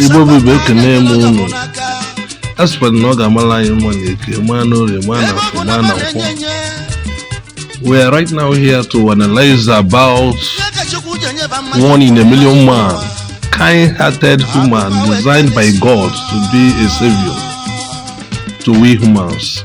Igbo bụ Igbo ekene m unu a sịkwara na ọ ga-amala anyị mma na eke maa na orie maa na afọ maa na nkwọ we are right now here to analyze about one in a million man kind-hearted human designed by God to be a savior to we humans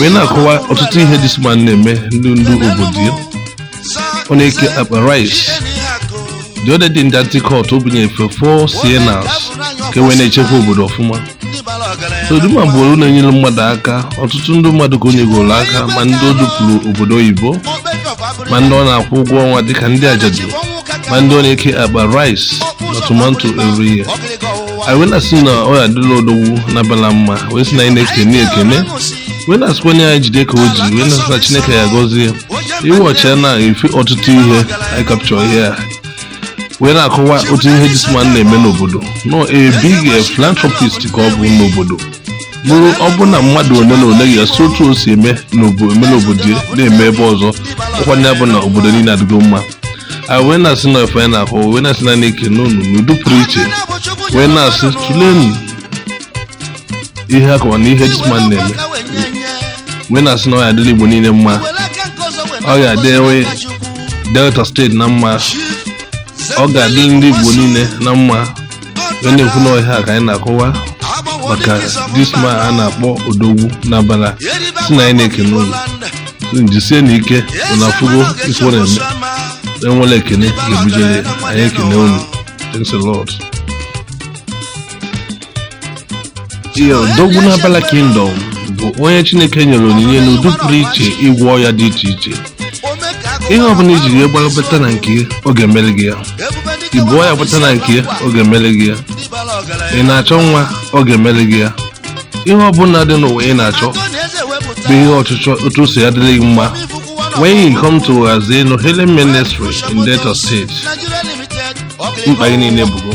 wee na-akọwa ọtụtụ ihe this man na-eme ndị ndị obodo ya ọ na-eke akpa rice the other day ndị anti cult o bunye efe 4 Siennas ka e wee na-echekwa obodo ọfụma so the man bụ onye na-enyere mmadụ aka ọtụtụ ndị mmadụ ka o nyegoro aka ma ndị o dupụrụ obodo oyibo ma ndị ọ na-akwụ ụgwọ ọnwa dịka ndị ajadu ma ndị ọ na-eke akpa rice na tomato every year anyị wee na-asị na ọ ya adịla odogwu n'abala mma wee sị na anyị na-ekene ekene wee na-asịkwa onye anyị jide ka o ji wee na-asị na chineke ya gọzie iwe ọchịa na efe ọtụtụ ihe anyị capture here wee na-akọwa otu ihe this man na-eme n'obodo na ọ a big philanthropist ka ọ bụ n'obodo bụrụ ọ bụ na mmadụ ole na ole ga-esi otu o si eme n'obo- eme n'obodo ya na-eme ebe ọzọ ọ kwa ya bụ na obodo niile adịgo mma a wee na-asị na efe na-akọ wee na-asị na na-ekene unu n'ụdị pụrụ iche wee na-asị tụlenu ihe a kọwa na ihe this man na-eme wee na-asị na ọ ya adịla igbo niile mma ọ ga-adị enwe Delta State na mma ọ ga-adị ndị igbo niile na mma wee na-ekwu na ọ ihe a ka anyị na-akọwa maka this man a na-akpọ odogwu n'abala sị na anyị na-ekene unu jisie na ike na afụgo ife ọ na-eme enwere ekene ga-ebujere anyị ekene unu thanks a lot odogwu n'abala kingdom bụ onye chineke nyere onyinye n'ụdị pụrụ iche ịgwọ ọya dị iche iche ihe ọbụla i jiri ya gbara bata na nke ya ọ ga-emere gị ya i bu ọya bata na nke ya ọ ga-emere gị ya ị na-achọ nwa ọ ga-emere gị ya ihe ọbụla dị n'ụwa ị na-achọ bụ ihe ọchịchọ otu o si ya-adịrị gị mma when you come to Azeno Healing Ministry in Delta State mkpa gị niile bụgo